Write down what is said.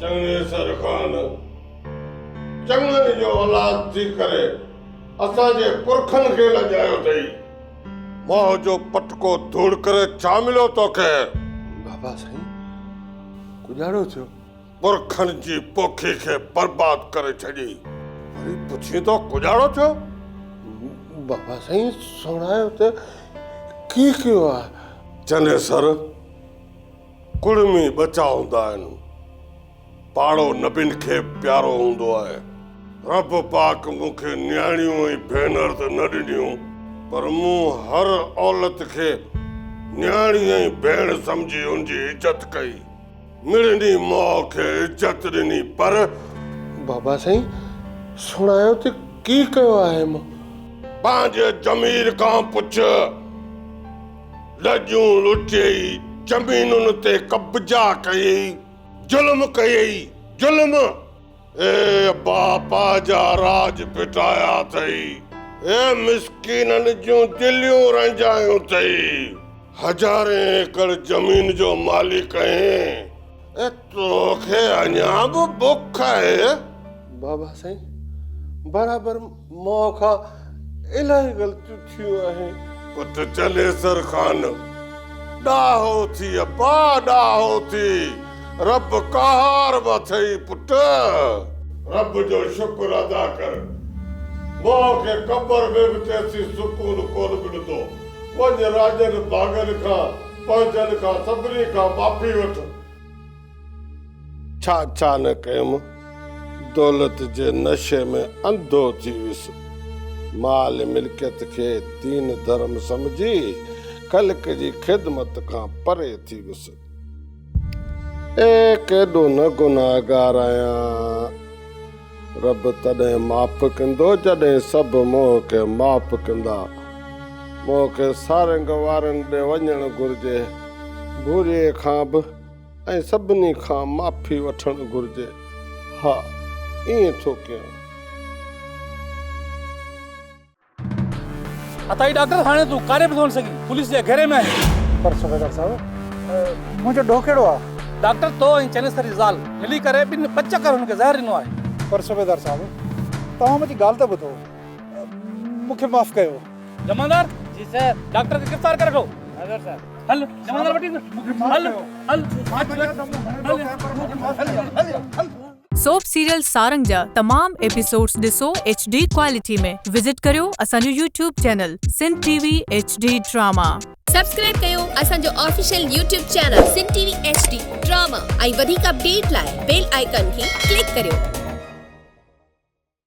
چڱي سر خان چڱن جو اولاد ٿي ڪري اسان جي پرکن کي لڄايو اٿئي. مئو جو پٽڪو ڌوڙ ڪري ڇا مليو توکي. بابا سائين ڪڄاڙو ٿيو. پرکن جي پوکي کي برباد ڪري ڇڏي. وري پڇين ٿو ڪوڏاڙو ڇو؟ بابا سائين سڻايو ته ڪيئن ڪيو آهي؟ چنيسر ڪڙمي ٻچا هوندا آهن. پاڙو نبين کي به پيارو هوندو آهي. رب پاڪ مون کي نياڻيون ۽ ڀينر ته نه ڏنيون پر مون هر عولت کي نياڻي ۽ ڀيڻ سمجهي ان جي عزت ڪئي. مڙني ماء کي عزت ڏني پر. بابا سائين سڻايو ته ڪي ڪيو آهي مان. پنهنجي ضمير کان پڇ. ڏڄون لٽيئي، زمينن تي قبضا ڪيئي، ظلم ڪيئي، ظلم. اي ابا پنهنجا راڄ ڦٽايا اٿئي. اي مسڪينن جون دليون رنجايون اٿئي. هزارين ايڪڙ زمين جو مالڪ آهين. اي تو کي اڃا به بک آهي. بابا سائين برابر. ماء کان الاهي غلطيون ٿيون آهن. پٽ چنيسر خان ڏاهو ٿي ابا ڏاهو ٿي رب قهار به اٿئي پٽ. رب جو شڪر ادا ڪر ماء کي قبر ۾ به تيسين سڪون ڪونه ملندو وڃ راڄن ڀاڳن کان پنهنجن کان سڀني کان معافي وٺ. ڇا ڇا نه ڪيم، دولت جي نشي ۾ انڌو ٿي ويس. مال ملڪيت کي دين ڌرم سمجهي خلق جي خدمت کان پري ٿي ويس. اي ڪيڏو نه گنهگار آهيان. رب تڏهن معاف ڪندو جڏهن سڀ مون کي معاف ڪندا. مون کي سارنگ وارن ڏي وڃڻ گهرجي. ڀوريء کان به. ۽ سڀني کان معافي وٺڻ گهرجي. ها ائين ٿو ڪيان. اتا هي ڊاڪٽر هاڻي تون ڪاڏي به ڪونه سگهين پوليس جي گهيري ۾ آهين. پر صوبيدار صاحب منهنجو ڏوهه ڪهڙو آهي. ڊاڪٽر تو ۽ چنيسر جي زال ملي ڪري ٻن پچ ڪر هن کي زهر ڏنو آهي. پر صوبيدار صاحب توهان منهنجي ڳالهه ته ٻڌو مون کي معاف ڪيو. جمعدار، جي سر. ڊاڪٽر کي گرفتار ڪري وٺو. حاضر سر. هل جمعدار وٽ هل هل هل. سوپ سيريل سارنگ جا تمام ايپيسوڊز ڏسو ايڇ ڊي ڪوالٽي ۾ وزٽ ڪريو اسان جو YouTube channel Sindh T V H D drama. Subscribe ڪيو اسان جو official YouTube channel Sindh T V H D drama ۽ وڌيڪ اپڊيٽ لاء بيل آئيڪان کي ڪلڪ ڪريو.